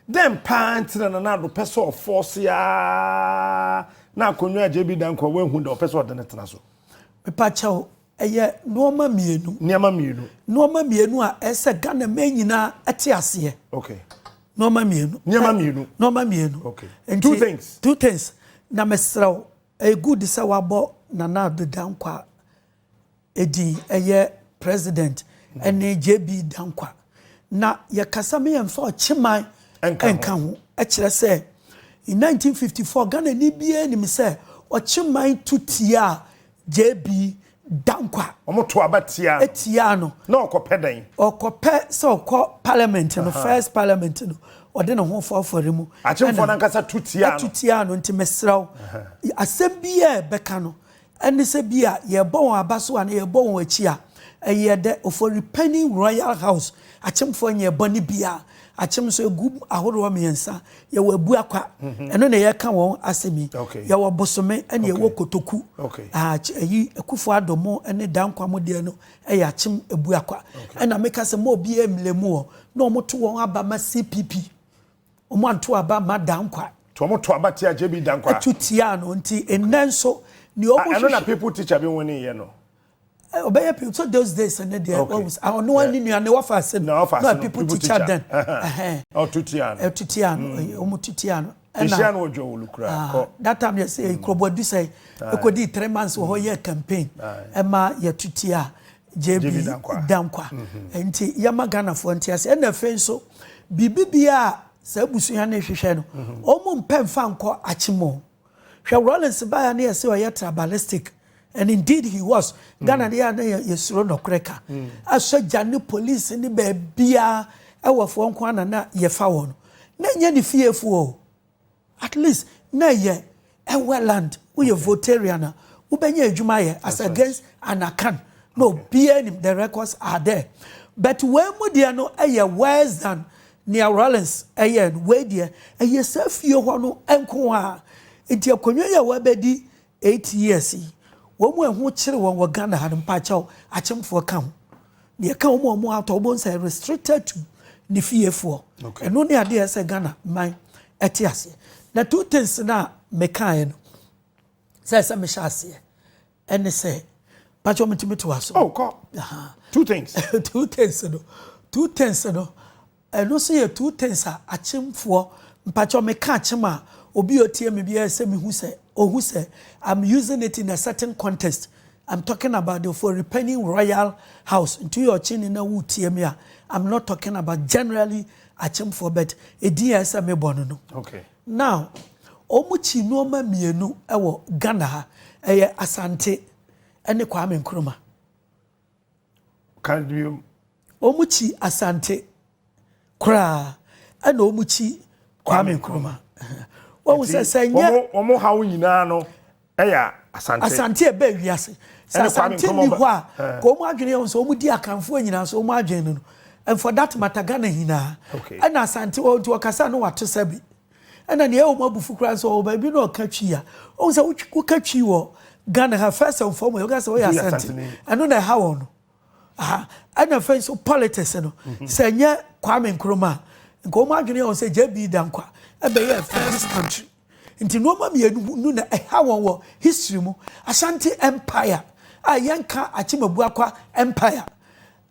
Dɛn paa nti na Nana Addo pɛ sɛ ɔfɔɔse ara na akonnwa a JB Danquah wɔ ahu da ɔpɛ sɛ ɔde no tena so? Mepa kyɛw, ɛyɛ nnoɔma mmienu. Nneɛma mmienu. Nnoɔma mmienu a ɛsɛ sɛ Ghana man nyinaa te aseɛ. Okay. Nnoɔma mmienu. Nneɛma mmienu. Nnoɔma mmienu. Okay. Nti, two things. Two things. Na mesrɛ wo, ɛyɛ good sɛ wabɔ Nana Addo Danquah Edin ɛyɛ president ɛne JB Dankwa na yɛkasa me yɛnfa ɔkyeman ɛnka ho ɛkyerɛ sɛ in 1954 Ghanani biaa nim sɛ ɔkyeman tu tiaa JB Dankwa. Ɔmo to aba tiaa no. Tiaa no. Na ɔkɔ pɛ dɛn? Ɔkɔ pɛ sɛ ɔkɔ parliament no first parliament no ɔde ne ho fɔɔfɔre mu. Akyemfoɔ no ankasa tu tiaa no. Tu tiaa no nti mesrɛ wo asɛm biaa ɛbɛka no Ɛne sɛ bi a yɛrebɔ wɔn aba so anaa yɛrebɔ wɔn akyi a, ɛyɛ dɛ. Ofori panyin Royal House akyemfoɔ nyɛɛ bɔne biara. Akyem nso, egu ahoroɔ mmiɛnsa. Yɛwɔ Abuakwa, ɛno na yɛreka wɔn asɛm yi. Yɛwɔ Bosome ɛna yɛwɔ Kotoku. Ayi Akuffo Addo mo ne Danquah mo deɛ no yɛ akyem Abuakwa. Ɛna meka sɛ mma obiara mmlɛ mu hɔ na wɔto wɔn aba ma CPP. Wɔanto aba mma Dankwah. Nti wɔn to aba tia JB Dankwah. Ɛto tia no nti nnɛ nso nea wɔn hwehwɛ. Ɛno na people teacher bi wini yɛ no. Ɔbɛyɛ people so those days ne deɛ wɔn wusa ah ɔno wɔn ne nua ne wɔfa ase no na people teacher then. Ɔto tia no. Ɛto tia no wɔn to tia no. Ɛhyia no ɔdwa wɔlu kura kɔ. That time yɛ sɛ kurobɔ adusɛ ekodi three months wɔ hɔ yɛ campaign ɛma yɛ to tia. JB Dankwa. Nti yɛma Ghanafoɔ nte ase. Ɛna afei nso, biribi biara a saa abusua no rehwehwɛ no, wɔn mpɛ mfa nkɔ akyem o. Hwɛ Rawlings baeɛ na yɛse ɔyɛ tribalistic and indeed he was. Ghana no yɛ na yɛsuro nɔkorɛ ka. Asogya ne police ne baabiara ɛwɔfoɔ nko ara na na yɛfa wɔn. Na ɛnyɛ ne fiefoɔ o. At least na ɛyɛ ɛwɛ land woyɛ votarian a wobɛnya adwuma ayɛ as against anakan na obiara nim the records are there but wei mu deɛ no ɛyɛ worse than nea Rawlings ɛyɛ no wei deɛ ɛyɛ saa fie hɔ no nko a nti akonnwa yi a wabɛdi Eight years yi, wɔn a ɛho kyere wɔn wɔ Ghana ha no, mpakyɛw, akyemfoɔ ka ho. Deɛ ɛka wɔn a wɔn atɔ, wɔbɛhu sɛ restricted to ne fiefoɔ. Okay. Ɛno ne adeɛ sɛ Ghana man ɛte aseɛ. Na two things no a mekaeɛ no, sɛ ɛsɛ mehyɛ aseɛ, ɛne sɛ, mpakyɛw metumi to aso. Oh, kɔ. Aha. Two things. two things no, two things no, Ɛno nso yɛ two things a akyemfoɔ, mpakyɛw meka akyem a, obi a ɔtie me biara sɛ mehu sɛ ɔhu sɛ I'm using it in a certain context, I'm talking about the Ofori-Panyin Royal House, nti woyɛ ɔkyeni na woretie me a, I'm not talking about generally akyemfoɔ but edin a ɛsɛ sɛ mebɔ no no. Okay. Now, wɔn kyi nneɛma mmienu wɔ Ghana ha, ɛyɛ Asante ne Kwame Nkrumah. Ka biom. Wɔn kyi Asante koraa ɛna wɔn kyi Kwame Nkrumah. Wɔn sɛ sɛ nyɛ. Wɔn wɔn haw nyinaa no ɛyɛ Asante. Asante ɛbɛ wiase. Sɛ Asante ni hɔ a, ka wɔn adwene yɛ wɔn sɛ wɔn di Akanfoɔ nyinaa so wɔn adwene no no. And for that matter Ghana nyinaa ɛna Asante wɔ nti ɔkasa no wato sɛbi. Ɛna nea ɛwɔ mu abufu koraa sɛ ɔwɔ baabi na ɔka twi a ɔhu sɛ woka twi wɔ Ghana ha first and foremost woka sɛ woyɛ asante ɛno na ɛha wɔn no aha ɛna afei nso politics no mhm. sɛ nyɛ Kwame Nkrumah nka wɔn adwene yɛ wɔn sɛ JB Dankwa ɛbɛyɛ first country nti nneɛma mmienu no na ɛha wɔn wɔ history mu Ashanti empire a yɛnka Akyemabua kwa empire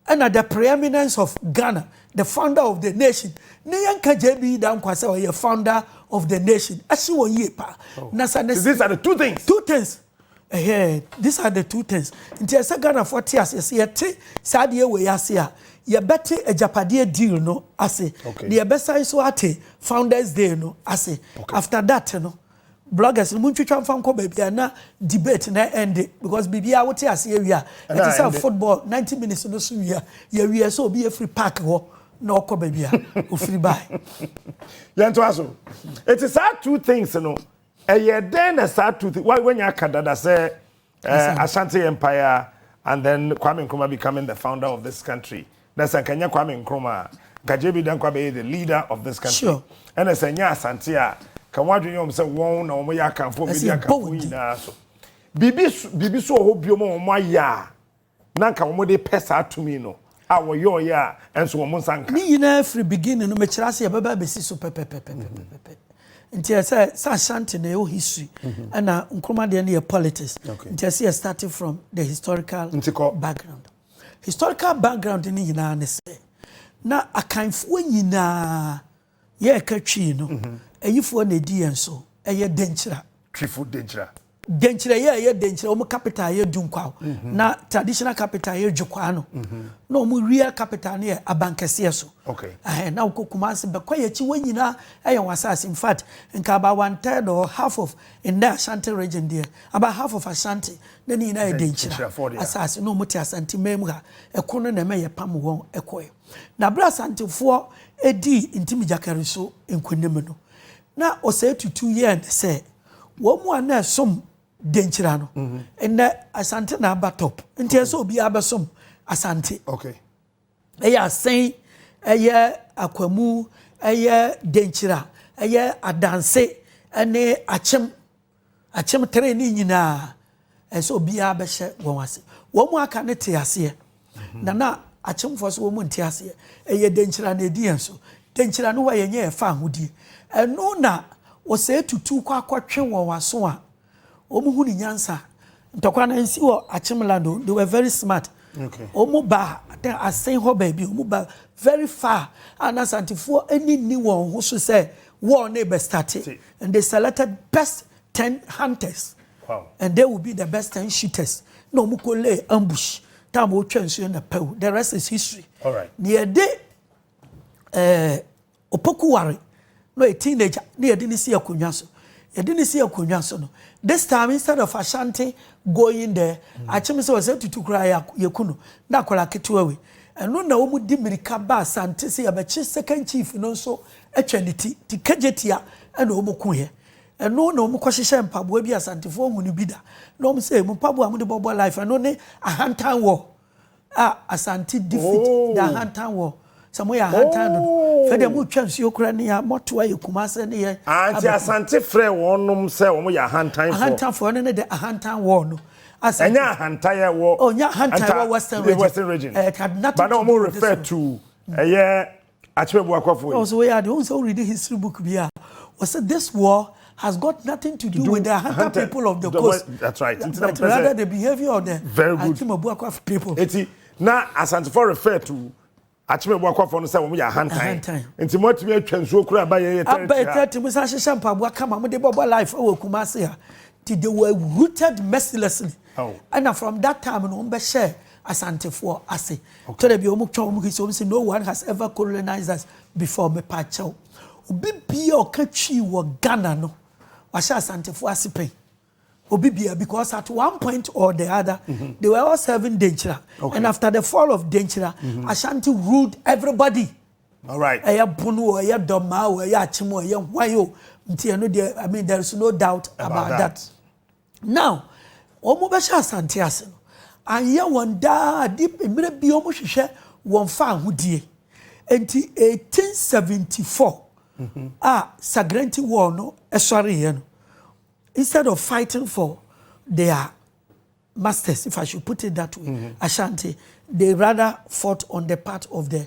Ɛna the preeminence of Ghana the founder of the nation ne yɛn ka JB Dankwa sɛ ɔyɛ founder of the nation ɛsi wɔn yie paa oh. na sa ne. These are the two things. Two things ɛhɛ these are the two things nti ɛsɛ Ghana fo te ase ɛsɛ yɛte saa deɛ wɔ yɛ ase a yɛbɛte agyapadeɛ deal no ase na yɛbɛsan so ate founders day no ase after that no. Bloggers no montwitwa mfa nkɔ baabi a na debate na ɛnde because biribiara wote ase awie a ɛte sɛ football 90 minutes no so wie a yɛwie sɛ obi afiri park hɔ na ɔkɔ baabi a ofiri bae. Yɛntoa so. Eti saa two things no ɛyɛ dɛn na saa two things wanya aka dada sɛ Eh, Ashanti Empire and then Kwame Nkrumah becoming the founder of this country. Na sɛ nka nyɛ Kwame Nkrumah a, nka JB Danko abɛyɛ the leader of this country. Sure. Ɛna sɛ nyɛ Asante a, ka wɔn adwene yɛ wɔn sɛ wɔn na wɔn yɛ akanfo, wɔn di akanfo nyinaa so. Biribi biribi so wɔ hɔ bio ma wɔn ayɛ a. na anka wɔn de pɛ saa tumi no a wɔyɔɔyɛ a ɛnso wɔn nsa nka. Ne nyinaa firi beginning no mekyerɛ ase yɛbɛba abɛsi so pɛpɛpɛpɛpɛpɛ nti ɛsɛ sɛ Ashanti na ɛwɔ history ɛna Nkrumah deɛ no yɛ politics nti ɛsɛ yɛ starting from the historical background historical background no nyinaa ne sɛ na Akanfoɔ nyinaa Yɛreka Twi no, ayifoɔ na ɛdi yɛn so, ɛyɛ Denkyira. Twifo Denkyira. Denkyira yi a ɛyɛ Denkyira, wɔn capital yɛ Dunkwao, na traditional capital yɛ Dwokwaa no, na wɔn wia capital no yɛ Abankɛseɛ so. Okay. Ɛhɛn, na wokɔ Kumasi, Bɛkwayi akyi, wɔn nyinaa ɛyɛ wɔn asaase. In fact, nka about one third or half of nnɛ Ashanti region deɛ, about half of Ashanti, na ne nyinaa yɛ Denkyira asaase, na wɔn te Asanteman mu ha. Ɛko no na ɛma yɛpam wɔn kɔɛ. Na bere a Asantefoɔ dii Ntimi Gyakari so nkonim no, na ɔsɛe tutu yɛɛ ne sɛ wɔn mu a na ɛsom Denkyira no, nnɛ Asante na aba top. Nti ɛsɛ sɛ obiara bɛsom Asante. Okay. Ɛyɛ Asen, ɛyɛ Akwamu, ɛyɛ Denkyira, ɛyɛ Adanse, ɛne Akyem. Akyem tree ne nyinaa, ɛsɛ obiara bɛhyɛ wɔn ase. Wɔn mu aka no te aseɛ, na na akyemfoɔ so wɔn mu nte aseɛ. Ɛyɛ denkyira na ɛdi yɛn so. Denkyira no hɔ a yɛnyɛ yɛfa ahodie. Ɛno na ɔsɛe tutu kɔ akɔtwe wɔn aso a wɔn hu ne nyansa. Ntɔkwa no nsi wɔ akyem land o, they were very smart. Okay. Wɔn ba asen hɔ baabi, wɔn ba very far a na asantefoɔ ani nni wɔn ho so sɛ wɔn na ɛbɛstate. And they selected best ten hunters. Wow. And they will be the best ten shooters. Na wɔn kɔ lay ambush. Time wɔn twɛ nsuo na pɛw. The rest is history. All right. Na yɛde ɛɛ eh, opoku ware na yɛ teenager na yɛde ne si akonnwa so. Yɛde ne si akonnwa so no. This time instead of Ashanti going there, mm. akyem sɛ wɔsɛ tutu kura yɛku no na akɔla ketewa wei. Ɛno na wɔn di mirika ba Asante sɛ yɛbɛkye second chief no nso twa ne ti te kagyetia na wɔn ku yɛ ɛno na wɔn kɔ hyehyɛ mpaboa bi asantefoɔ hu no bi da na wɔn sɛ mu mpaboa wɔn de bɔbɔ life ɛno ne ahantan wɔ a asante defeat oh. da ahantan wɔ sɛ mo yɛ ahantan no oh. fɛ deɛ mo twa nsuo kura ne yɛ mɔto ayɛ kuma sɛ ne yɛ anti ah, asante frɛ wɔnom sɛ wɔn yɛ ahantan fɔ ahantan fɔ ɛno ne de ahantan wɔ no asante ɛnyɛ ahantan yɛ wɔ ɔnyɛ oh, ahantan wɔ western region western region ɛɛ eh, kadinata to ɛyɛ. Akyerɛ boakɔfoɔ yi. Ɔsɛ woyɛ adeɛ wohu sɛ wo read history book bi a wɔsɛ this war has got nothing to do with the hunter people of the coast that's right but rather the behavior of the Akyema Buakwafoɔ people. Eti na Asantefoɔ refer to Akyema Buakwafoɔ no sɛ wɔn yɛ ahantan nti mo atumi atwa nsuo kura aba yɛn yɛ tɛrɛti ha. Aba yɛ tɛrɛti mo san hyehyɛ mpaboa kama mo de bɔbɔ life wɔ Kumasi ha ti they were rooted mercilessly ɛna oh. from that time no wɔn bɛ hyɛ Asantefoɔ ase. Twerɛ bi a wɔn twa wɔn history wɔn sɛ no one has ever colonized us before mepa kyɛw. Obi bia ɔka twi wɔ Ghana no wahyɛ Asantefoɔ ase pɛn. Obi bia because at one point or the other mm -hmm. they were all serving Denkyira okay. and after the fall of Denkyira mm -hmm. Ashanti ruled everybody. All right. Ɛyɛ pono o ɛyɛ dɔmaa o ɛyɛ akyem o ɛyɛ hwan o nti ɛno deɛ I mean there is no doubt about, about that. that. Now wɔn bɛ hyɛ asante ase no anyɛ wɔn daa ade mmerɛ bi wɔn hwehwɛ wɔn fa ahodie nti 1874 mhm. a sagrenti war no ɛsɔre yɛ no instead of fighting for their masters if I should put it that way mm -hmm. Ashanti they rather fought on the part of the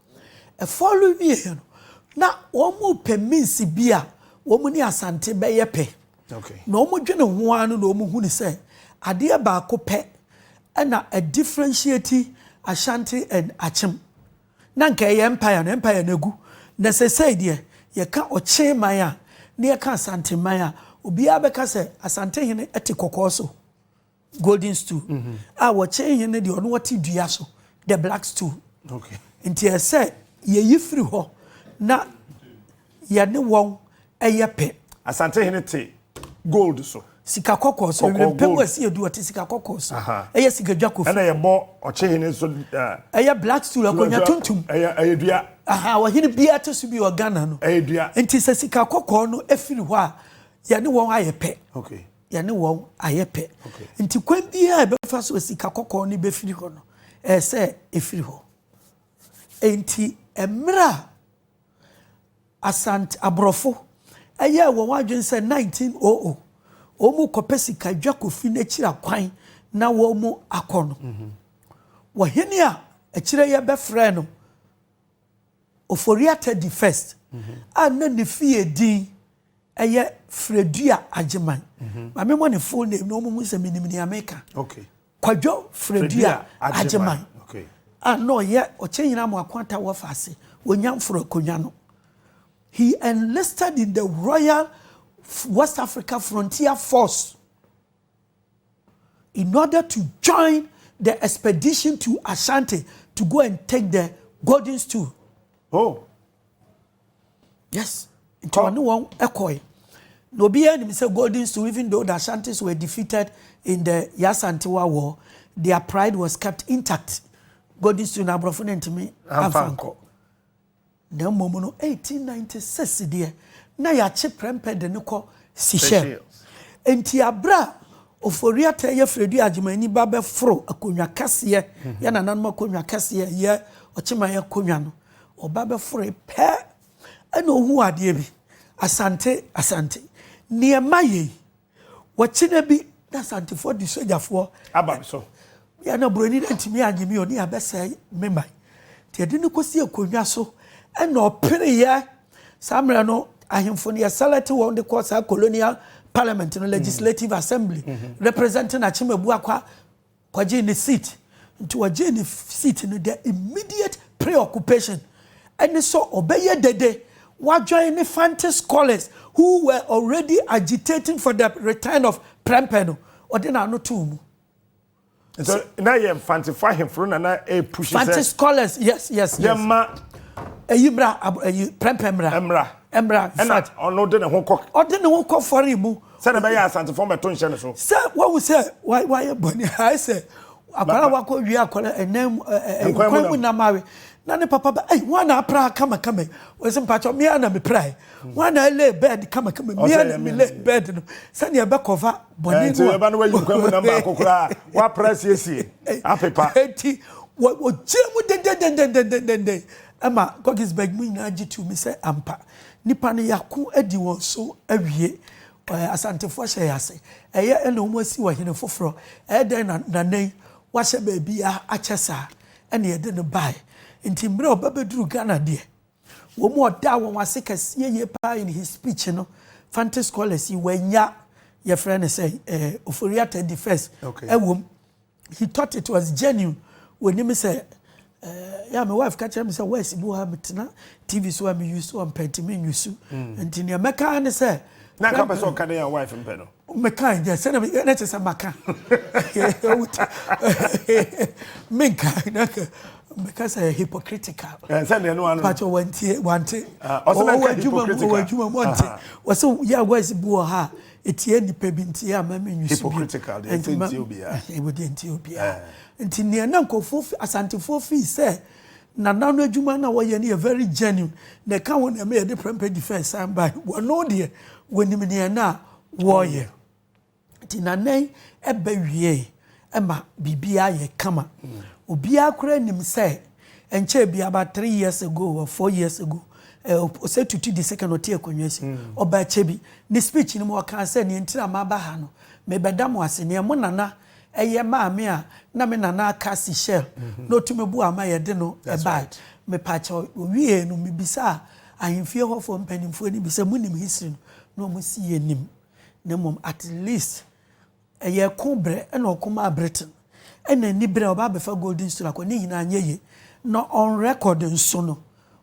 Ɛfɔr wiei no, na wɔrepɛ means bi a wɔn ne Asante bɛyɛ pɛ. Na wɔdwene ho ara no na wɔhunu sɛ adeɛ baako pɛ na ɛdifferentiate Ashanti and Akyem. Na anka ɛyɛ Empire no, Empire no agu. Na seesei deɛ, yɛka Ɔkye man a, na yɛka Asante man a, obiara bɛka sɛ Asantehene te kɔkɔɔ so. Golden stool a wɔkyɛn he no deɛ ɔno ɔte dua so the black stool nti ɛsɛ yɛyi firi hɔ na yɛne wɔn ɛyɛ pɛ. Asante hene te gold so. sika kɔkɔɔ so ewira mpɛmu ɛsi edu ɔte sika kɔkɔɔ so ɛyɛ sika dwa kofi. ɛna yɛbɔ ɔkye hene nso. ɛyɛ black stool akonnwa tuntum. ɛyɛ ɛyɛ dua. aha ɔhene biara te so bi wɔ ghana no. ɛyɛ dua. nti sɛ sika kɔkɔɔ no efiri hɔ a yɛne wɔn ayɛ pɛ. okay. yɛne wɔn ayɛ pɛ nti kwan biara ɛbɛfa so sika kɔkɔɔ no bɛfiri hɔ no ɛyɛ sɛ ɛfiri hɔ nti mmerɛ a asante aborɔfo ɛyɛ wɔn adwene sɛ 1900 wɔn kɔpɛ sika dwa kofi n'akyiri akwan na wɔn akɔ no wɔhene a akyire yɛ bɛfrɛ no Ofori Atta di First a na ne fie din yɛ Fredua Agyeman. Ma memmɔ ne full name na wɔnhu sɛ menim nea meka. Kwadwo Fredua Agyeman a na ɔyɛ Ɔkyɛnyina Amoako Atta Wɔfa ase wɔ Nyamforo Akonnwa no. He enlisted in the Royal West Africa Frontier Force in order to join the expedition to Ashanti to go and take the golden stool. Oh. Yes. Nti ɔne wɔn ɛkɔe. Na obiara nim sɛ golden stool even though the Ashantis were defeated in the Yasantewa war, their pride was kept intact. Golden stool na aborɔfo no ntumi amfa nkɔ. Na mmom no, 1896 deɛ, na yɛakye prɛmpɛ de no kɔ Seychelles. Enti aberɛ a Ofori-Atta yɛ Fredu Agyeman-Ani ba bɛforo akonnwa kɛseɛ, yɛn nananom akonnwa kɛseɛ, yɛ Ɔkyeman akonnwa no, ɔba bɛforoe pɛ na ɔhuu adeɛ bi, Asante, Asante, nneɛma yei Wɔkyena bi na Asantefoɔ de sogyafoɔ aba me so. Yɛ na buroni no antumi anye me oni abɛsɛe me man. Nti ɛde no kɔsi akonnwa so ɛna ɔpereeɛ. Saa mmerɛ no ahemfo no yɛsɛlɛte wɔn de kɔ saa colonial parliament no legislative assembly representing Akyem Abuakwa Ɔgyee ne seat nti ɔgyee ne seat no dɛ immediate preoccupation ne sɛ ɔbɛyɛ dede ɔadwen ne Fante scholars who were already agitating for the return of Prempeh no, ɔde n'ano too mu. Nso na yɛ Mfantefo ahemfo no na na ɛrepushi sɛ. Fante scholars, yes, yes, yes. Yɛma. Ɛyi mmra, ɛyi Prempeh mmra. Mmra. Mmra. Ɛna ɔno de ne ho kɔ. Ɔde ne ho kɔ fɔre mu. Sɛdeɛ ɛbɛyɛ a Asantefoɔ mmɛto nhyɛ ne so. Sɛ wahu sɛ wayɛ bɔne a, ayɛ sɛ akwadaa a wakɔ wie akwadaa ɛnan mu nkwan mu nam awe na ne papa ba ɛyi wɔn na apra kamakama wɔsi mpatsɔ mmea na mepra yi wɔn na ɛlɛ bɛɛd kamakama mmea na melɛ bɛɛd no sɛnea ɛbɛ kɔfa bɔne no a ɛba no wayi nkwan mu nam baako koraa wapra siesie apepa eti wɔgyina mu dendendendendendenden ɛma gɔgisbɛg mu nyinaa gye tu mi sɛ ampa Nipa no yako adi wɔn so awie. Ɛ, Asantefo ahyɛ yɛ ase. Ɛyɛ, ɛna wɔn asi ɔhene foforɔ. Ɛyɛ dɛn na Nana yi wahyɛ baabiara akyɛ saa? Ɛna yɛde no baeɛ. Nti mmerɛ a ɔbɛbɛduru Ghana deɛ, wɔn a ɔdaa wɔn ase kɛseɛ yie pa ara in his speech no, Fante scholars yi, wɔannya, yɛfrɛ no sɛn, ɛ, Ofori-Atta di first, ɛwom. He thought it was genuine. Wɔnim sɛ eh, yɛ me wife ka kyerɛ me sɛ west bi wɔ ha metena TV so a me use wɔn pɛ nti me nyusu. Mm. Nti nea mɛka ne sɛ. Na nka pɛ sɛ ɔka ne yɛ wife mpɛ no. Mɛka nyɛ sɛ na meyɛ na kyɛ sɛ maka. Menka na mɛka sɛ hypocritical. Eh, sɛ deɛ no ano. Pàtó wɔntie wɔnte. Ah, Ɔsɛ mɛka hypocritical. Wɔwɔ adwuma mu wɔnte. Ah. Wɔsɛ yɛ west bi wɔ ha Etia nnipa bi nti a mma minnye so bio. Hypocritical deɛ ɛsɛ ntia obiara. Ɛwɔ deɛ ntia obiara. Nti nea na nkurɔfoɔ fi Asantefoɔ feel sɛ Nana no adwuma no a wɔyɛ no yɛ very genuine na ɛka ho na ɛma yɛde Prempeh Defence san bae no, wɔno deɛ wɔnim nea na wɔreyɛ. Nti Nana yi ba wieeɛ ɛma biribiara yɛ kama. Obiara koraa nim sɛ ɛnkyɛɛ bi about three years ago or four years ago ɔsɛ tutu di second ɔte akonnwa ase hmm. ɔba akyɛ bi ne speech no mu ɔkaa sɛ nea ntira ma aba ha no mebɛda mo ase nea mo nana ɛyɛ maame a na me nana aka si shell hmm. na ɔtumi bu ama yɛde no ɛbae mepakyɛ owie no mebisaa ahemfie hɔfoɔ mpanimfoɔ no bi sɛ monim history no na ɔmo si yɛ nim na mmom at least Ɛyɛ ɛko berɛ na ɔko maa Britain ɛna ani berɛ a ɔba abɛfa Golden Stool akɔ ne nyinaa anyɛ yie na on record nso no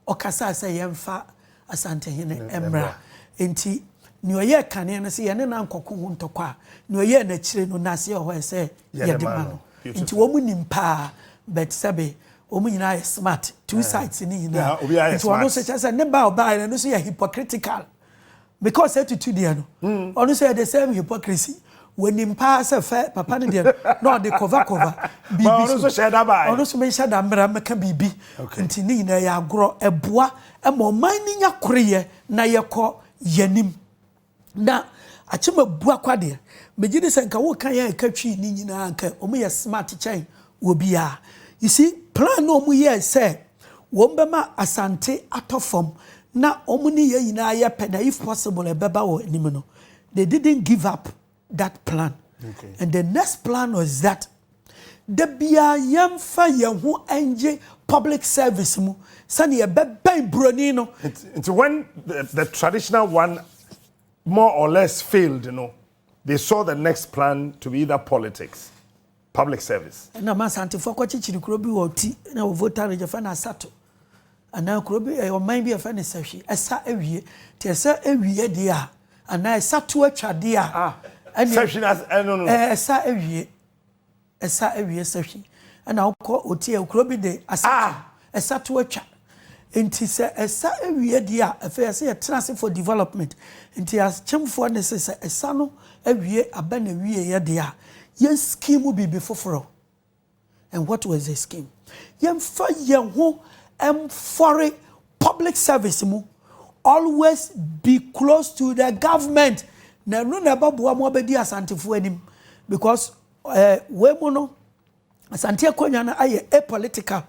ɔkasaa sɛ yɛmfa Asantehene mmra nti nea ɔyɛɛ kane no sɛ yɛne no ankɔko ho ntɔkwa a nea ɔyɛɛ no akyire no nase wɔ hɔ a ɛsɛ yɛde ma no nti wɔn nim paa but sɛbe wɔn nyinaa yɛ smart two sides no nyinaa nti ɔno nso kyerɛ sɛ ne ba a ɔbaeɛ no ɛno nso yɛ hypocritical. Because etutu deɛ no, ɔno nso yɛ the same hypocrisy. Wɔnim paa sɛ fɛ papa no deɛ no na ɔde cover cover biribi so. Ɔno nso hyɛ da baa yi. Ɔno nso menhyɛ da mmra mmɛka biribi. Nti ne nyinaa yɛ agorɔ. Ɛboa ma ɔman no nya koreyɛ na yɛkɔ yɛnim. Na Akyem Abuakwa deɛ, megye di sɛ nka woka yɛ a ɛka Twi no nyinaa a, nka wɔyɛ smart kyɛn wɔ biaa. You see plan no ɔmo yɛɛ sɛ wɔn bɛma Asante atɔ fam na ɔmo ne yɛn nyinaa yɛ pɛ na if possible ɛbɛba wɔ anim no they didn't give up that plan and the next plan was that da biaa yɛn fa yɛn ho ngye public service mu sɛnea yɛbɛbɛn broni no. Nti when the, the traditional one more or less failed no they saw the next plan to be either politics. Public service. Ɛna ma Asantefoɔ kɔkyekyere kuro bi wɔ Ɔti na wɔ Volta Region yɛfrɛ no Asato anaa kuro bi ɛyɛ ɔman bi a yɛfrɛ no Sahwi ɛsa awie nti ɛsa awie deɛ a anaa ɛsato atwa deɛ a ah, ɛne Sahwi na ɛno no ɛsa awie ɛsa awie Sahwi ɛna wokɔ Ɔti ɛyɛ kuro bi de Asato ah, Ɛsa to atwa. Nti sɛ ɛsa awie deɛ a, afei ɛsɛ yɛtena ase for development. Nti akyemfoɔ nne se sɛ ɛsa no awie aba n'awieɛ deɛ a, yɛn scheme biribi foforɔ. And what was the scheme? Yɛmfa yɛn ho mfɔre public service mu. Always be close to the government. Na ɛno na ɛbɛboa mo abɛdi Asantefoɔ anim. Because eh, wei mu no, Asante akonwa no ayɛ a political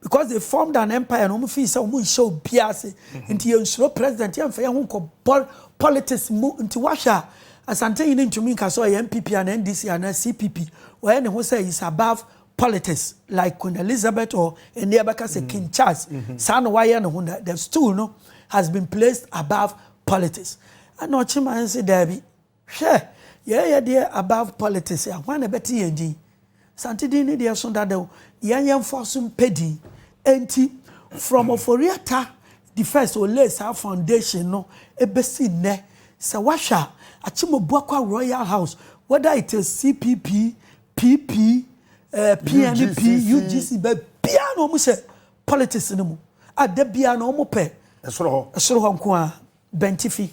because they formed an empire na wɔn fii sɛ wɔn nhyɛ obiara ase nti yɛn nsuro president yɛn nfa yɛn ho nkɔ bɔl politics mu nti wahwɛ a asante yi ne ntumi nka sɛ ɔyɛ npp ana ndc ana cpp wɔyɛ ne ho sɛ is above politics like queen elizabeth or ɛnni ɛbɛka sɛ king charles saa na wayɛ ne ho na the stool no has been placed above politics ɛna ɔkyema nse daabi. Hwɛ, yɛɛ yɛ deɛ above politics a, hwan na ɛbɛte yɛn din? Asante din no deɛ ɛso dada o, yɛn yɛmfoɔ so mpɛ din. Enti, from Ofori-Atta the first ɔlayed saa foundation no bɛsi nnɛ, sɛ woahwɛ a, Akyem-Obuakwa Royal House, whether it is CPP, PP, eh, PNP, UGC. UGC, baabiara na wɔn hyɛ politics no mu a, da biara na wɔn pɛ Ɛsoro hɔ. ɛsoro hɔ nko ara, bɛntifi.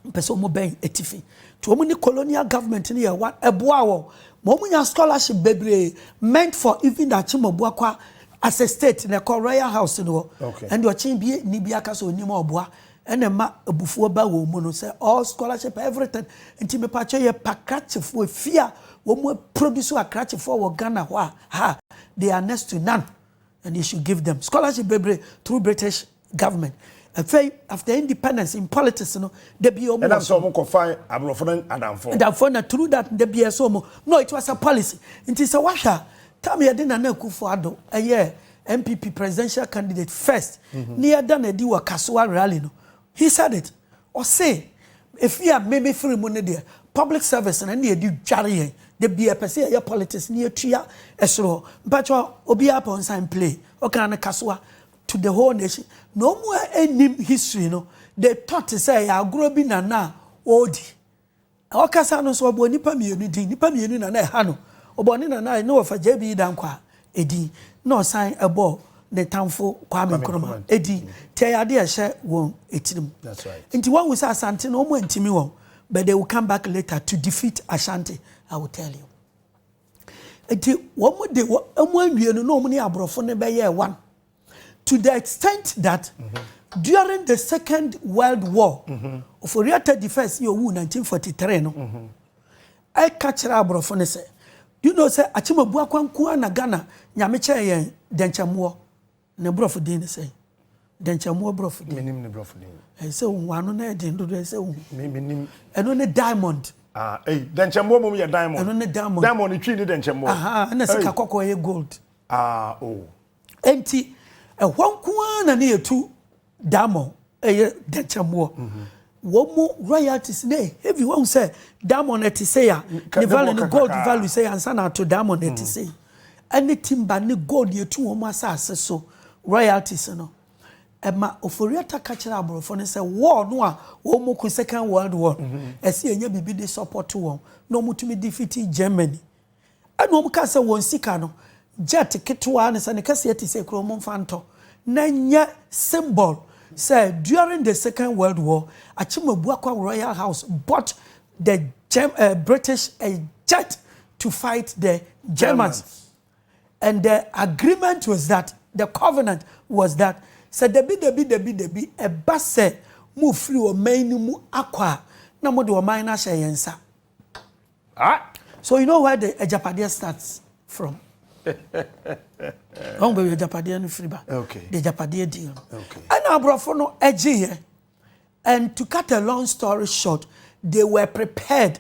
Wɔpɛ sɛ wɔn bɛn atifi. Nti wɔn ne colonial government no yɛ one. Ɛboa wɔn ma wɔn nya scholarship bebree meant for even the Akyemɔbuakwa as a state na ɛkɔ royal house no hɔ. Okay. Ɛnde ɔkyen bi ni bi aka sɛ onim a ɔboa ɛna ɛma abufuo ba wɔn mu no sɛ all scholarship everything. Nti mepatwa yɛ pa krakyefoɔ efi a wɔn produce akrakyefoɔ wɔ Ghana hɔ a ha they are next to none and they should give them scholarship bebree through British government afei after independence in politics no da bi ɔmo ɛnam sɛ ɔmo kɔ fa aborɔfo no adamfo adamfo na through that da bi ɛsɛ ɔmo no it was a policy nti sɛ wahwɛ a tam yɛde nana akufo ado ɛyɛ npp presidential candidate first mhm. ne yɛda na adi wɔ kasoa rally no he said it ɔse efi a mmemme firi mu ne deɛ public service na ne yɛde dware yɛn da bi ɛpɛ sɛ yɛyɛ politics ne yɛtua ɛsoro hɔ mpakyɛ obiara pɛ ɔnsan play ɔkaa no kasoa to the whole nation na wɔn a ɛnnim history no de tɔ te sɛ ɛyɛ agorɔ bi na na ɔredi ɔkasa no nso ɔbɔ nnipa mmienu din nnipa mmienu na na ɛha no ɔbɔ ne nana ne wɔfa JB Dankwa edin na ɔsan ɛbɔ ne tamfo Kwame Nkrumah edin te ɛyɛ adeɛ ɛhyɛ wɔn etirim nti wɔn wusa Asante no wɔn ntumi wɔn but they will come back later to defeat Ashanti I will tell you. Nti wɔn de wɔn anwie no na wɔn ne aborɔfo no bɛyɛɛ one to the extent that mm -hmm. during the second world war mm -hmm. Ofori-Atta the first yɛ owu 1943 no mm -hmm. ɛka kyerɛ aborɔfo no sɛ you know sɛ Akyemabu Akwanko na Ghana nyame kyɛɛ yɛn dɛnkyɛmmoɔ Ne borɔfo din ne sɛn? Dɛnkyɛmmoa borɔfo din. Menim ne borɔfo din. Ɛyɛ sɛ wohu ano na ɛyɛ den dodo, ɛyɛ sɛ wohu. Me, menim. Ɛno ne diamond. Ah, ei, dɛnkyɛmmoa mmom yɛ diamond. Ɛno ne diamond. Diamond ne twi ne dɛnkyɛmmoa. Aha, ɛna sika kɔkɔɔ yɛ gold. Ah, oh. Enti, ɛhɔ nko ara na ne yɛ tu. Diamond ɛyɛ dɛnkyɛmmoɔ wɔn mo royalties na heavy wɔn sɛ diamond ɛte sɛ ya ne value ne gold value sɛ ya nsa na ato diamond ɛte sɛ yi ɛne timba ne gold yɛ tu wɔn asase so royalties no ɛma oforiata ka kyerɛ aborɔfo no sɛ war no a wɔn mo ko second world war ɛsɛ yɛnyɛ biribi de support wɔn na wɔn tumi defeat germany Ɛna wɔn kaa sɛ wɔn sika no, jet ketewaa ne sɛ ne kɛseɛ te sɛ kuro momfa ntɔ na nyɛ symbol sɛ during the second world war Akyemabuakwa royal house bought the Germ eh, British a jet to fight the Germans. Germans. And the agreement was that, the covenant was that, sɛ dabi dabi dabi dabi ɛba sɛ mofiri ɔman no mu akɔ a, na mode ɔman no ahyɛ yɛn nsa. Ah! So you know where the agyapadeɛ starts from? Ɔn baabi agyapadeɛ no firi ba. Okay. The agyapadeɛ deal no. Okay. Ɛna aborɔfo no ɛgye yɛ. And to cut a long story short, they were prepared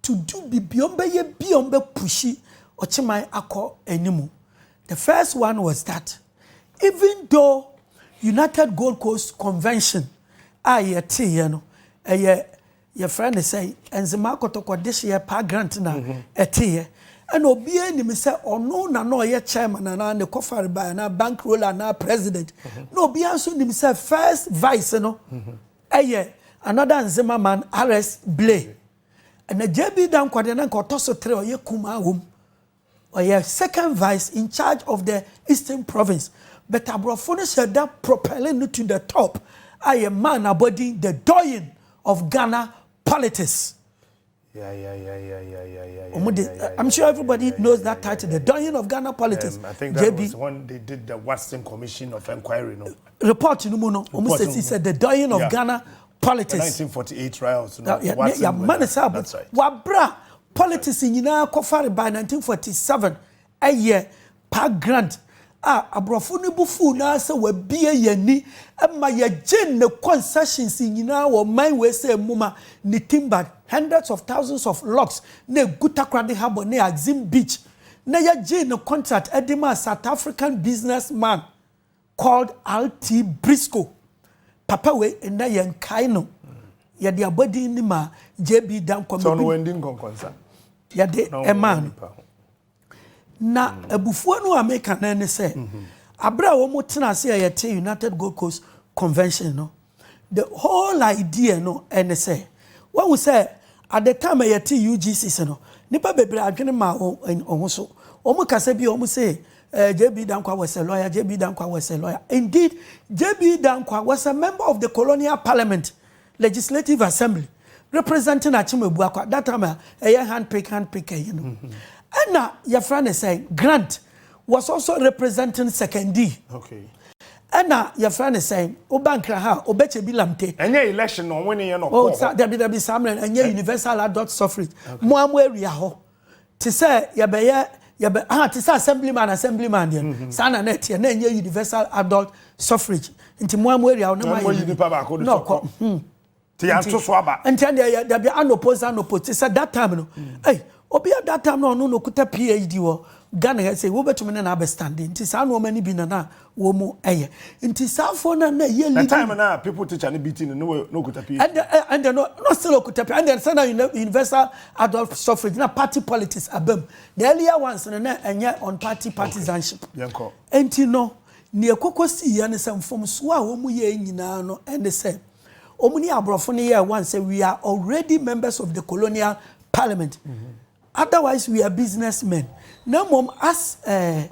to do bibi ɔn bɛyɛ bi ɔn bɛ pushi ɔkyeman akɔ animu. The first one was that even though United Gold Coast Convention a yɛte yɛ no ɛyɛ Yɛfrɛ no sɛ Nzemaa Kɔtɔkɔ dehyeɛ Park Grant na ɛteeɛ. Ɛna obiara nim sɛ ɔno na na ɔyɛ chairman anaa ne kɔfare bae anaa bank roller anaa president. Na obiara nso nim sɛ first vice no yɛ another Nzema man RS Blay. Ɛna JB Dankwah deɛ na nka ɔtɔ so tere ɔyɛ kumaa wɔ mu. Ɔyɛ second vice in charge of the Eastern Province, but aborɔfo no hyɛ da propelling no to the top a yɛ maa no abɔdin the doyen of Ghana politics. Wɔn de, I'm sure everybody knows that title, the doyen of Ghana politics. Um, I think that JB. was when they did the Watson Commission of Inquiry, no? Report no mu no, wɔn sɛ si sɛ the doyen of yeah. Ghana politics. The 1948 riots, no? Yeah, yeah, yeah, man, that's right. Wabra, Politics nyinaa kɔfare by 1947 ɛyɛ Park Grant a aborɔfo no bo fuw no ara sɛ wabue yɛn ani ma yɛgyee ne concessions nyinaa wɔ ɔman wei sɛ mmuma ne timbered hundreds of thousands of logs na egu Takoradi Harbour ne Axim Beach na yɛgyee no contract de maa South African businessman Called RT Briscoe, papa wei nnɛ yɛ nkae no, yɛde abɔdin no maa JB Danquah. Sɛ ɔno wandi nkɔnkɔnsa. Yɛde ɛmaa no. Na mm. abufuo no a meka no ne sɛ, mm-hmm. abere a wɔn tena ase a yɛte United Gold Coast Convention no, The whole idea no ne sɛ, wahu sɛ at the time a yɛtee UGCs no, nnipa bebree adwene maa wɔn ho so. Wɔn kasa bi a wɔn se eh, JB Dankwah was a lawyer, JB Dankwah was a lawyer. Indeed, JB Dankwah was a member of the colonial parliament, legislative assembly, representing Akyem Abuakwa, that time a ɛyɛ handpick handpick ɛyi no. Ɛna yɛfrɛ ne sɛ Grant. Was also representing Sekondi. Okay. Ɛna yɛfrɛ ne sɛn? Woba nkra ha a, Obekyebi Lamte. Ɛnyɛ election na ɔwene yɛ na ɔkɔɔ hɔ. Sa dabi dabi saa mmerɛ no ɛnyɛ universal adult suffrage. Okay. Mo a mo awia hɔ. Te sɛ yɛbɛyɛ yɛbɛ ah te sɛ assemblyman assemblyman deɛ. Mm -hmm. Saa na na ɛteɛ na ɛnyɛ universal adult suffrage. Nti mo a mo awia hɔ na mo ayɛ. Na mo yi nipa baako de sɔkɔ. Ti yɛn to so aba. Nti ɛnde yɛ dabi anopo nsa anopo ti sɛ that time no. Ɛy obi a that time no ɔno na okuta PhD wɔ Ghana ha sɛ wobɛtumi ne no abɛ stand nti saa nnoɔma no bi na na wɔn ɛyɛ nti saa foɔ no na ɛyɛ leading. The time na people teacher no beating no na okuta PhD. Ɛnde ɛnde no na still okuta PhD ɛnde sɛ na universal adult suffrage na party politics abam the earlier ones no na ɛnyɛ on party partisanship. Okay yɛn kɔ. Nti no nea ɛkɔkɔ sii yɛ no sɛ mfomsoɔ a wɔn yɛɛ nyinaa no ɛne sɛ. Wɔn ne aborɔfo no yɛɛ one sɛ we are already members of the colonial parliament otherwise we are business men na mmom as eh,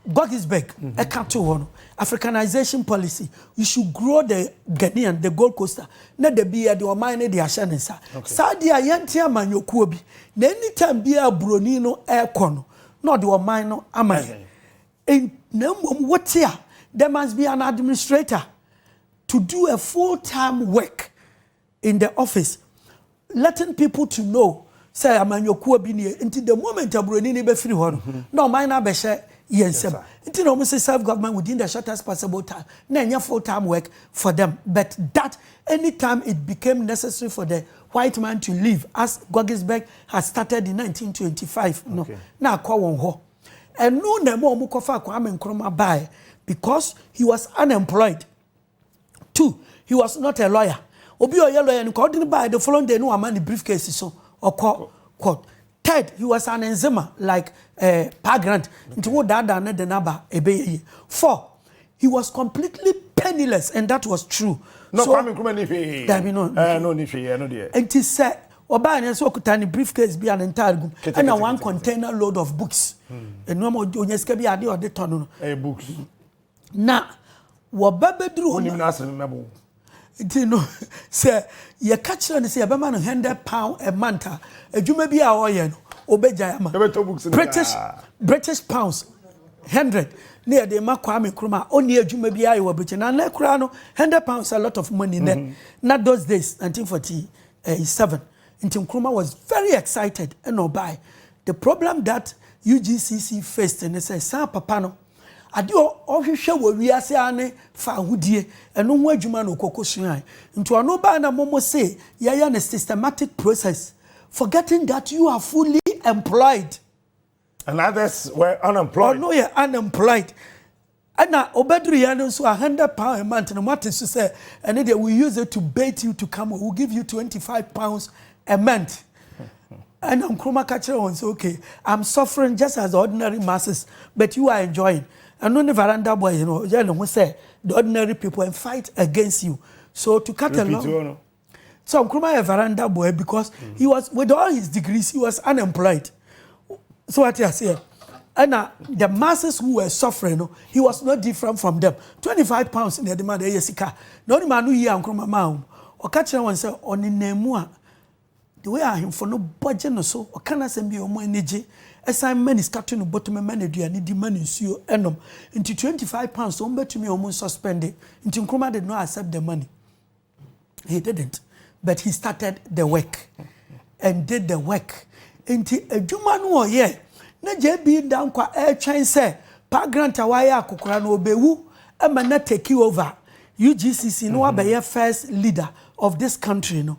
Gogisberg ɛka to hɔ no africanization policy you should grow the Ghanaian the Gold Coaster na da bi yɛde ɔman no de ahyɛ ne nsa saa deɛ a yɛnte amanyɔkuo bi na anytime biara buroni no ɛrekɔ no na ɔde ɔman no ama yɛn And na mmom wote a, there must be an administrator to do a full time work in the office letting people to know sɛ amanyɔkuo bi nie nti the moment aburoni ni bɛfiri hɔ no mhm. na ɔman no abɛhyɛ yɛn nsam nti na wɔn si self government within the shortest possible time na ɛnyɛ full time work for them but that anytime it became necessary for the white man to leave as Gogisberg had started in 1925 no na akɔ wɔn hɔ. Ɛno na ɛma wɔn kɔfaa Kwame Nkrumah baeɛ because he was unemployed. Two, he was not a lawyer. Obi a ɔyɛ lawyer no nka ɔde no baeɛ the following day no wama ne briefcase so ɔkɔ court. Third, he was an enzima like eh, Pa Grant. Nti wo daadaa ne de n'aba ɛbɛyɛ yie. Four, He was completely penniless and that was true. No, so, Kwame Nkrumah ni hwee. Dabi no. Eh, no ni hwee, no deɛ. Nti sɛ ɔbaa ne nso ɔkuta ne briefcase bi a ne ntaade gum ɛna one container load of books. Nneɛma hmm. onye sika bi ade ɔde tɔ no. Eh, books. Na wɔba bɛduru hɔ. Wonim n'asɛm mɛbo. Nti no, sɛ yɛka kyerɛ no sɛ yɛbɛma no hundred pound a month a, adwuma bi a ɔreyɛ no, obegyae ama. Yɛbɛtɔ books no British nyinaa. British pounds hundred na yɛde ma Kwame Nkrumah a ɔnni adwuma biara yɛ wɔ Britain. Na nnɛ koraa no, hundred pounds a lot of money nnɛ. Na those days, nineteen forty seven, nti Nkrumah was very excited ɛna ɔbae. The problem that UGCC faced ne sɛ saa papa no, Ade a ɔhwehwɛ wɔ wiase ara ne fawohodie, ɛno ho adwuma na ɔkɔ kɔsuae. Nti ɔno baa na momo se yɛyɛ no systematic process, forgetting that you are fully employed. And others were unemployed. Ɔno yɛ unemployed. Ɛna ɔbɛduruiɛ no nso a hundred pound a month no moate so sɛ ɛno deɛ we use it to bait you to come, we will give you twenty five pounds a month. Ɛna Nkrumah ka kyerɛɛ wɔn sɛ, Okay, I'm suffering just as the ordinary masses but you are enjoying. Ɛno ne Varanda boy no, ɔyɛ ne ho sɛ the ordinary people and fight against you. So to cut a long. Repeat no. So Nkrumah yɛ Varanda boy because mm. he was, with all his degrees, he was unemployed. So what I say? And uh, the masses who were suffering, no, he was not different from them. 25 pounds in the demand, eh, yes, he can. No, the man who here, Nkrumah, ma, ɔka kyerɛ wɔn sɛ ɔnenam mu a The way ahemfo no bɔ gye no so, ɔka n'asɛm bi a wɔn ani gye, ɛsan ma ne sika to no bottom, ɛma no aduane di, ma no nsuo nom. Nti twenty five pounds wɔn bɛtumi wɔn nsuspende. Nti Nkrumah did not accept the money. He didn't. But he started the work and did the work. Nti adwuma no ɔyɛ na JB Dankwa ɛretwɛn sɛ pa grant a wayɛ akokora no ɔbɛwu ɛma na take over UGCC no wabɛyɛ first leader of this country no.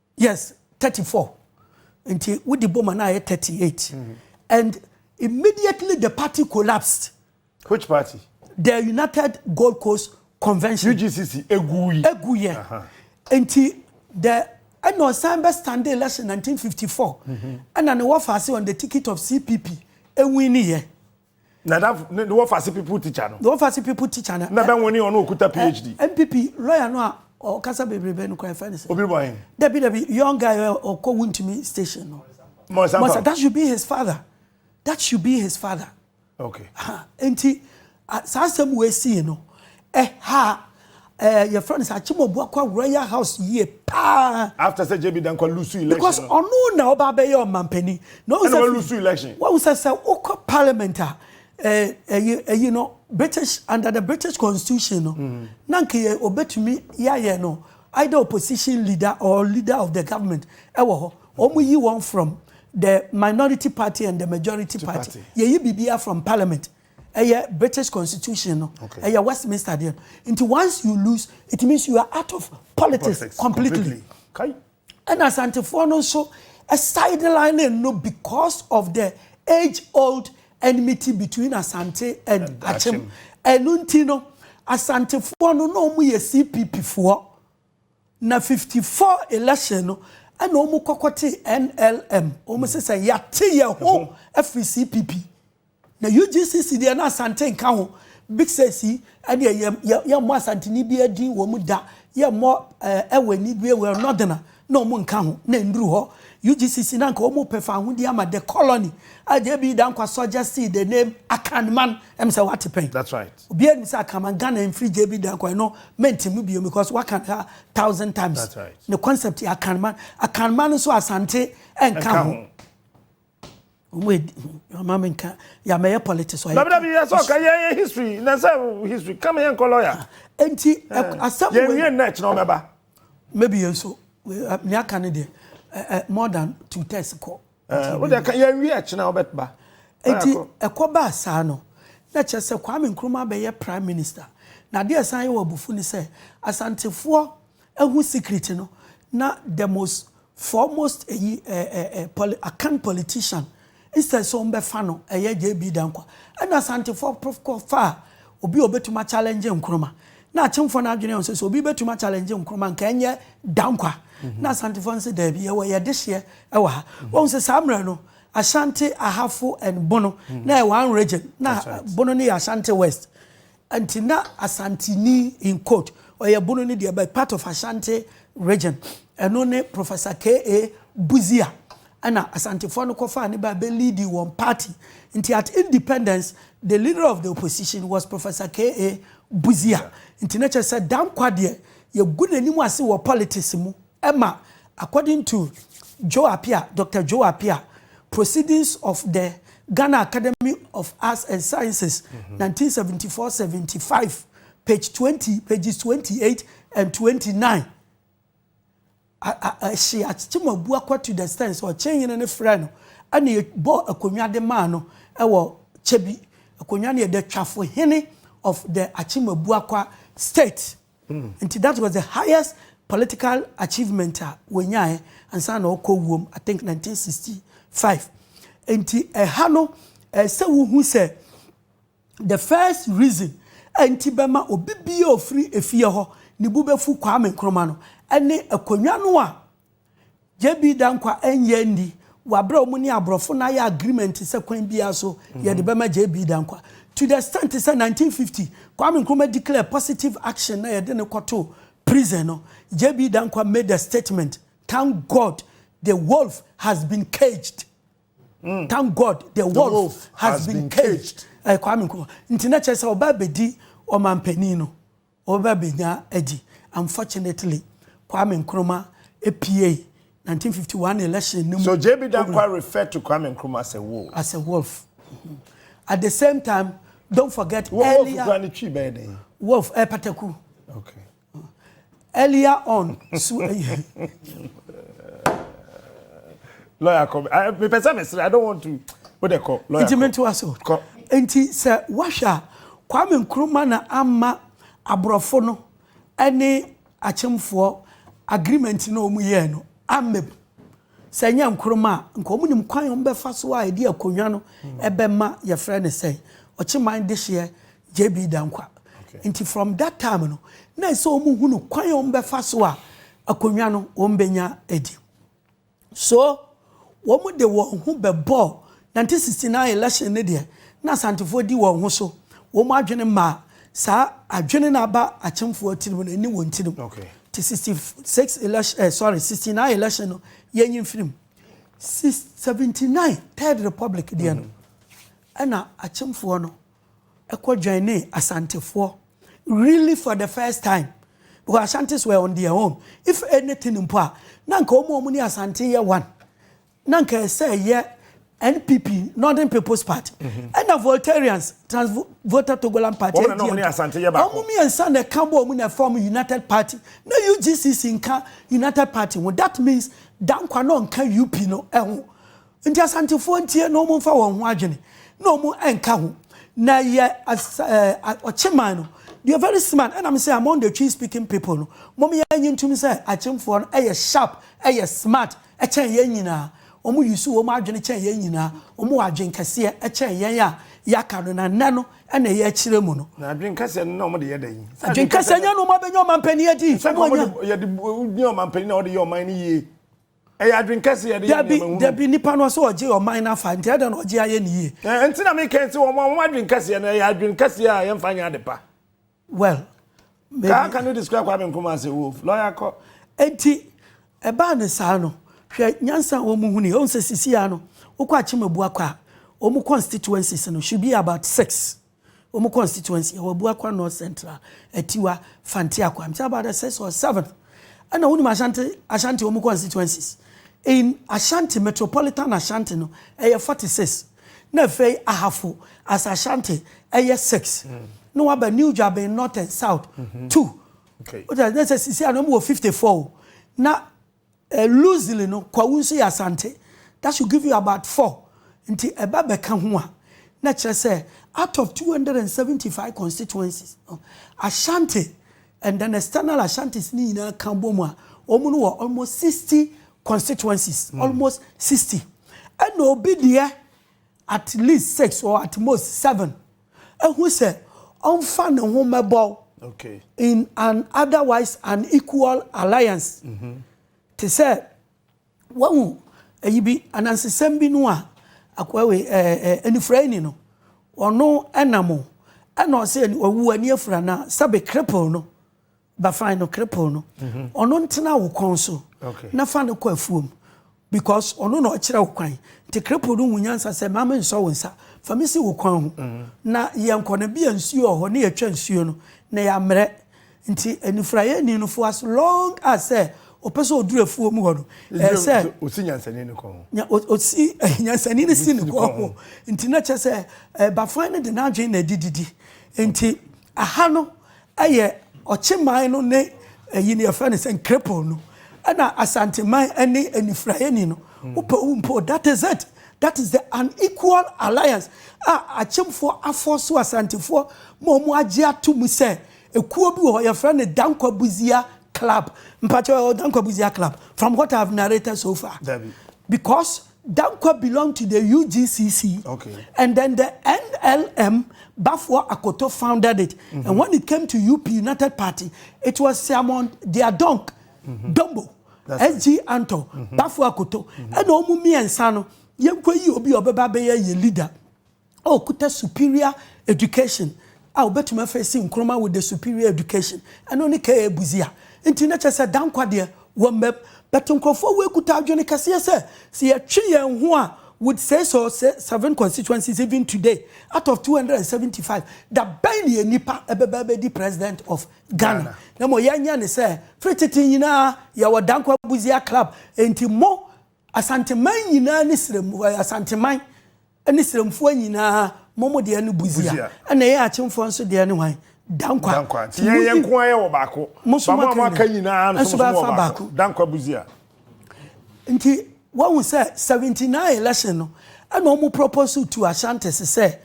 Yes, thirty four. Nti wodi boma na ayɛ thirty eight. Mm-hmm. And immediately the party collapsed. Which party? The United Gold Coast Convention. UGCC eguyi. Eguyi. Nti the ɛna ɔsan bɛ stand election nineteen fifty four. Mm-hmm. Ɛna ne wɔfa ase on the ticket of CPP ewin ni yɛ. Nadafo ne wɔfase pipu tikya no. Ne wɔfase pipu tikya no. Na bɛ nwene ɔno okuta PhD. NPP lɔya no a ɔkasa bebrebe no kora ɛfɛ ne sɛ. Obi bɔ hen? Dabi dabi young guy ɔkɔ wuntumi station no. Mɔnsa mpa. That should be his father. That should be his father. Okay. Nti saa asɛm wei sii no Ɛha ɛɛ yɛfrɛ no sɛ Akyemɔbu akɔ Royal House yie paa. After sɛ JB Dankwa lose election. Because ɔno na ɔba abɛyɛ ɔmampanin. Na ɔwɔ sɛ. Ɛna ɔlose election. Wɔn sɛ sɛ wokɔ parliament a ɛyi ɛyi no British under the British constitution no. Mm. Na nka yɛ obetumi yɛayɛ no either opposition leader or leader of the government ɛwɔ hɔ. Wɔn yi wɔn from the minority party and the majority party. Yɛyi biribiara from parliament. Ɛyɛ British constitution no. Okay. Ɛyɛ Westminster deɛ no. Nti once you lose, it means you are out of politics, politics completely. Kai. Ɛna Asantefoɔ no nso sideline no because of the age old enmity between Asante and, and Akyem. Ɛno nti no, Asantefoɔ no na wɔn yɛ CPP foɔ. Na 54 election no, ɛna wɔn kɔkɔ te NLM. Wɔn sɛ sɛ yɛate yɛn ho afiri CPP. Na UGCC deɛ na Asante nka ho, Big Six yi ɛdeɛ yɛ yɛ yɛmmɔ Asanteni biara din wɔ mu da, yɛmmɔ ɛɛ Ɛwɛni biara wɔ Northerner na wɔn nka ho, na ɛnnuru hɔ. UGCC na anka wɔn repɛ fawohodie ama The Colony a JB Dankwa suggested the name Akanman, ɛm sɛ wate pɛn. That's right. Obiara nim sɛ Akanman, Ghana ɛmfiri JB Dankwa, ɛno mɛnte mu bio because waka no a thousand times. That's right. Ne concept yɛ Akanman, Akanman nso Asante ɛnka ho. Mama me nka ya mɛyɛ politics ɔyɛ. Dabidabi yɛ sɛ ɔka yɛ yɛ history na sɛ history kama yɛ nkɔ lawyer. Ah, nti asɛm wei. Yɛn wie nnɛ kyerɛ ɔmɛ ba. Maybe yɛn so ne aka ne deɛ eh, more than two thirds kɔ. Eh, wo deɛ yɛn wie kyerɛ ɔbɛ ba. Nti ɛkɔ ba saa no na kyerɛ sɛ Kwame Nkrumah bɛyɛ prime minister na adeɛ san yɛ wɔ abufu ne sɛ asantefoɔ Ehu secret no na the most foremost eyi eh eh eh poli akan politician instead sɛ ɔmbɛfa no ɛyɛ JB Dankwa ɛna Asantefoɔ prof kɔ faa obi a ɔbɛtumi a challenge Nkrumah na Akyemfoɔ no adwene nso sɛ obi bɛtumi a challenge Nkrumah nka ɛnyɛ Dankwa na Asantefoɔ no sɛ daabi yɛwɔ yɛ dehyeɛ ɛwɔ ha wahu sɛ saa mmerɛ no Ashanti Ahafo and Bono na ɛyɛ one region na Bono no yɛ Ashanti West Nti na Asanteni, in quote, Ɔyɛbono no deɛ but part of Ashanti region, ɛno ne Professor KA. Busia ɛna Asantefoɔ no kɔfaa no baa bɛ leadi wɔn party. Nti at independence the leader of the opposition was Professor KA. Busia. Nti na kyerɛ sɛ Danquah deɛ yɛgu n'anim ase wɔ politics mu. Ɛma according to Joe Appiah, Doctor Joe Appiah, Proceedings of the Ghana Academy of Arts and Sciences, nineteen seventy four, seventy five, page twenty, pages twenty eight and twenty nine, a a ɛhye Akyem Abuakwa to the extent sɛ Ɔkyenhene no frɛɛ no ɛna ɛbɔɔ akonnwa de maa no ɛwɔ Kyebi. Akonnwa no yɛ the Twafohene of the Akyem Abuakwa state. Nti that was the highest political achievement a wɔnyaeɛ ansa na ɔkɔ wuom, I think 1965. Nti ɛha no, ɛɛ sɛ wohu sɛ the first reason a nti bɛma obi biara ofiri efie hɔ ne bu bɛfu Kwame Nkrumah no, ɛne akonnwa no a JB. Danquah nyɛ nni wɔ aberɛ a wɔn ne aborɔfo no ayɛ agreement sɛ kwan biara so yɛde bɛma JB. Danquah to the extent sɛ 1950 Kwame Nkrumah declare positive action na yɛde no kɔtoo prison no JB. Danquah made a statement Thank God the wolf has been caged Thank God the wolf has been caged ɛyɛ Kwame Nkrumah nti na kyerɛ sɛ ɔba abɛdi ɔmanpanin no Wɔbɛba benya adi. Unfortunately, Kwame Nkrumah puei 1951 election no mu. So JB Danquah refer to Kwame Nkrumah as a wolf? As a wolf. At the same time, don't forget earlier. Wolf kura ne twi bɛyɛ dɛn? Wolf, eh, pataku. Okay. Earlier on, so. lawyer kɔ mepɛ sɛ mesrɛ i don't want to wo de kɔ lawyer nti mentoa so kɔ nti sɛ woahwɛ a kwame nkrumah na ama aborɔfo no ne akyemfoɔ agreement na wɔn yɛɛ no amem sɛ nyɛ nkrumah a nka wɔn nim kwan wɔn bɛfa so a ɛde akonnwa no ɛbɛma yɛfrɛ no sɛ ɔkyeman dehyeɛ jb dankwa nti from that time no na ɛsɛ wɔn hunu kwan wɔn bɛfa so a akonnwa no wɔn bɛnya adi. So wɔn de wɔn ho bɛbɔɔ nineteen sixty nine election ne deɛ na Asantefoɔ di wɔn ho so, wɔn adwene maa saa adwene no aba Akyemfoɔ tirim no ɛne wɔn tirim nti sixty six election eh sorry sixty nine election no yɛnyi mfiri mu six seventy nine third republic deɛ no ɛna Akyemfoɔ no kɔ joinee Asantefoɔ really for the first time because Ashantis were on their own if anything mpo a na nka wɔn a wɔn ne Asante yɛ one na nka ɛsɛ ɛyɛ NPP Northern People's Party mhm. ɛna Voltarians Trans Volta Togoland Party wɔn na wɔn ne Asante yɛ baako wɔn mmiɛnsa na ɛka bɔ wɔn na ɛfam United Party na UGCC nka United Party ho that means Dankwa na ɔnka UP no ɛho. Nti Asantefoɔ ntie na wɔn nfa wɔn ho adwene na wɔn nka ho na yɛ ɔkyeman no deɛ very smart ɛna me sɛ among the twi speaking people no wɔn yɛ nyi ntum sɛ akyemfoɔ no ɛyɛ sharp ɛyɛ smart ɛkyɛn yɛn nyinaa wɔn yusu wɔn adwene kyɛn yɛn nyinaa wɔn wɔ adwene kɛseɛ ɛkyɛn yɛn a yɛaka no na nnɛ no ɛna ɛyɛ akyerɛ mu no. na adwene kɛseɛ no na wɔn de yɛ dɛ yi. adwene kɛseɛ nyɛ no wɔn abɛnya ɔmanpanin adi. sɛ wɔn yɛ de yɛ ɔmanpanin na wɔde yɛ ɔman no yie. Ɛyɛ adwene kɛse yɛde yɛ nneɛma hunu. Dabi, dabi, nipa no sɛ ɔgye ɔman no afa, nti adɛn na ɔgye ayɛ ne yie? Ɛɛ, nti na me kan sɛ wɔn a wɔn adwene kɛseɛ no, ɛyɛ adwene kɛseɛ a yɛnfa nyɛ ade pa. Well, maybe. Ka, can you describe Kwame Nkrumah as a wolf? Lawyer kɔ. Nti, ɛbaa ne saa no, hwɛ nyansa a wɔn huni, wɔn sɛ sisi a no, wokɔ Akyem Abuakwa a, wɔn constituencies no should be about six. wɔn constituency ɛwɔ Abuakwa North Central, Atiwa, Fante Akwaa. Nti about the sixth or seventh ɛna wonim Ashanti Ashanti wɔn constituencies. In Ashanti metropolitan Ashanti no ɛyɛ forty six na afei Ahafo as Ashanti ɛyɛ six mm. na waba New Dwaben North and South mm -hmm. two. Okay. Wọ́n sɛ sisi anam wɔ fifty four na Loosely no, Kwawu nso yɛ Asante. That should give you about four. Nti ɛba bɛka ho a, na ɛkyerɛ sɛ out of two hundred and seventy five constituencies no, Ashanti and then external Ashantis no nyinaa ka bom a, wɔn no wɔ almost sixty constituencies. Almost sixty. Ɛna obi deɛ at least six or at most seven. ahu sɛ ɔmfa ne ho mmɛbɔw in an otherwise unequal alliance. Mm-hmm. Te sɛ wahu ayi bi anansesɛm bi no a akoawe anifuraeni no ɔno ɛnam ɛna ɔsɛ ɔwu ani afura na sɛbe cripple no Bafran no krepoo no, ɔno ntena wo kɔn so na fa no kɔ afuom because ɔno na ɔkyerɛ wo kwan. Nti krepoo no hu nyansa sɛ mma mensɔ wo nsa, fa me si wo kwan ho na yɛnkɔ no bia nsuo wɔ hɔ na yɛatwa nsuo no na yɛamerɛ. Nti anifuraeɛni no for as long as sɛ ɔpɛ sɛ ɔduru afuom hɔ no, ɛyɛ sɛ ɔsi nyansani no kɔn ho. Ɔsi nyansani no si no kɔn ho. Nti na kyerɛ sɛ Bafran no de n'adwene na ɛde didi. Nti Aha no yɛ Ɔkyeman no ne ayi no yɛfrɛ no sɛn Krepong no ɛna Asanteman ɛne Anifuraeni no wopɛ wo mpo that is it that is the unequal alliance a Akyemfoɔ afɔɔso Asantefoɔ ma wɔn agye ato mu sɛ ekuo bi wɔ hɔ yɛfrɛ no Dankwa Busia club mpakyɛw ɛwɔ Dankwa Busia club from what I have narrated so far because Dankwa belong to the UGCC okay. and then the NLM Baffour Akoto founded it mm -hmm. and when it came to UP United Party it was Siamon Diadonk mm -hmm. Dombo SG Anto mm -hmm. Baffour Akoto ɛna mm -hmm. ɔmo mmiɛnsa no yɛnkɔ yi obi ɔbɛba bɛyɛ yɛ leader. ɔkuta superior education a obetumi afeesi Nkrumah with the superior education. Ɛno ne KA Busia. Nti na kyerɛ sɛ Danquah deɛ wɔ mmam. But nkurɔfoɔ wei kuta adwene kɛseɛ sɛ, sɛ yɛtwe yɛn ho a with six or seven constituencies even today out of 275, da bɛn na yɛn nipa bɛba abɛdi president of Ghana? Na mmom yɛnyɛ ne sɛ, firi tete nyinaa yɛwɔ Danquah Busia club. Nti mo Asanteman nyinaa ne srɛm, Asanteman, Ɛne serɛmfoɔ nyinaa mo mo deɛ no buzia ɛna yɛn akyemfoɔ nso deɛ ne hwan? Dankwa. Dankwa. Nti yɛn yɛn nko ara yɛ wɔ baako. Mo nso mo aka nyinaa no nso mo wɔ baako. Dankwa buzia. Nti wɔn sɛ 79 election no ɛna wɔn propose to Ashantis sɛ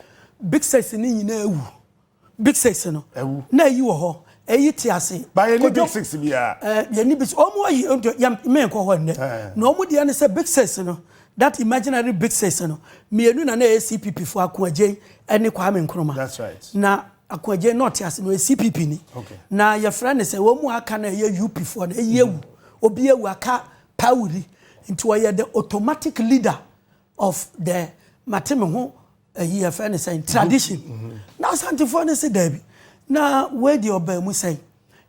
Big Six ne nyinaa awu. Big six no na ayi wɔ hɔ eyi te ase. Ba yɛ ni big six biara. Ɛɛ yɛ ni big six ɔmo ayi yɛ mɛn kɔ hɔ nnɛ na ɔmo deɛ ne sɛ big six no that imaginary big six no mmienu na na ɛyɛ CPP fo Ako Adjei ɛne Kwame Nkrumah. That's right. Na Ako Adjei na ɔte ase no ɔyɛ CPP ni. Okay. Na yɛfrɛ ne sɛ wɔn mu aka na ɛyɛ UP fo na ɛyɛ ewu obi ewu aka pawuri nti ɔyɛ the automatic leader of the mate me ho ayi yɛfrɛ no sɛn tradition na asantefoɔ no se daabi na wei deɛ ɔbaa mu sɛn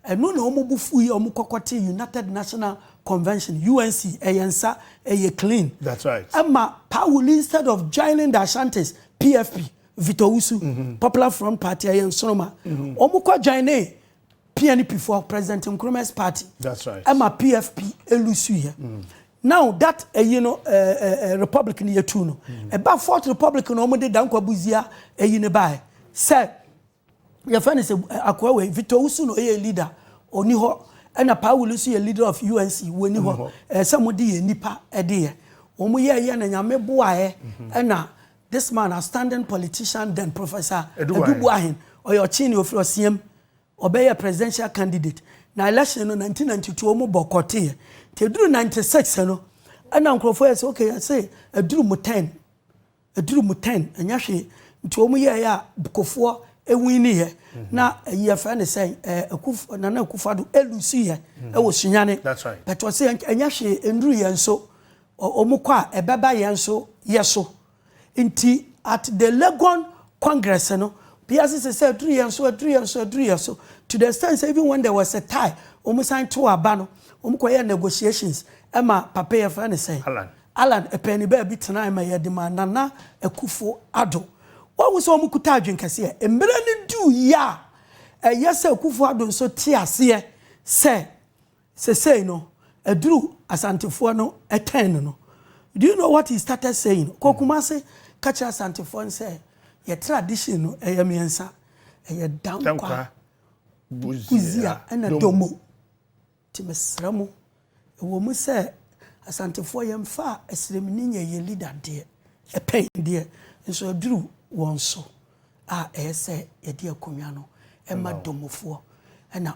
ɛno na wɔn bo fu yi wɔn kɔkɔ te united national convention unc ɛyɛ nsa ɛyɛ clean that's right ɛma pawuli instead of joining the ashantis pfp Victor Usu, mm -hmm. Popular Front Party, ɛyɛ nsoroma. Mm -hmm. Wɔn kɔ join ne PNP foɔ President Nkrumah's party. That's right. Ɛma PFP elusu yɛ. Mm. Now that ɛyi no ɛɛ eh, ɛɛ eh, eh, republic ni yɛ tu no. Mm. Ɛba fourth republic na wɔn de Dankwa Buzia ɛyi ne ba yɛ. Sɛ yɛ fɛn ne sɛ akɔɛ wɛ Victor Usu no ɛyɛ leader oni hɔ ɛna Paul Usu yɛ leader of UNC wɔni hɔ. Ɛsɛ mo de yɛ nipa ɛde yɛ. Wɔn yɛ yɛ na nyame boa yɛ mhm. ɛna this man a standing politician then professor Edubuahin ɔyɛ ɔkyin ni ofiri ɔsiam. Ɔbɛyɛɛ presidential candidate na election no nineteen ninety two ɔmo bɔkɔteeɛ nti ɛduru ninety six no ɛna nkorɔfoɔ yɛ sɛ ok yɛse ɛduru mo turn ɛduru mo turn ɛnyɛ hwee nti ɔmo yɛɛyɛ a bkofoɔ ɛwiniiɛ na ɛyi yɛfrɛ no sɛn ɛɛ akuf Nana Akufo Addo ɛlusuiɛ ɛwɔ Sunyane That's right. but ɔse ɛnyɛ hwee ɛnduru yɛn so ɔ ɔmo kɔ a ɛbɛba yɛn so yɛso. Nti at the Legon congress no, obiara sese sɛ aduru yɛn so, aduru yɛn so, aduru yɛn so, to the extent sɛ even when there was a tie, wɔn san too aba no, wɔn kɔ yɛɛ negotiations ma papa yɛ fɛ ne sɛn? Allan. Allan ɛpɛɛni baabi tenae ma yɛde maa Nana Akufo Addo. Wahu sɛ wɔn kuta adwene kɛseɛ. Mmere no duu yɛ a, ɛyɛ sɛ Akufo Addo nso te aseɛ sɛ Sesei no aduru Asantefoɔ no turn no no do you know what he started saying ɔkɔ Kumase ka kyerɛ Asantefoɔ no sɛ yɛ tradition no ɛyɛ mmiɛnsa ɛyɛ Dankwa, Buzia ɛna Domo nti mesrɛ mo ɛwɔ mu sɛ Asantefoɔ yɛmfa Asiremni nyɛ yɛn leader deɛ ɛpɛn deɛ nso aduru wɔn so a ɛyɛ sɛ yɛde akonnwa no ɛma Domofoɔ ɛna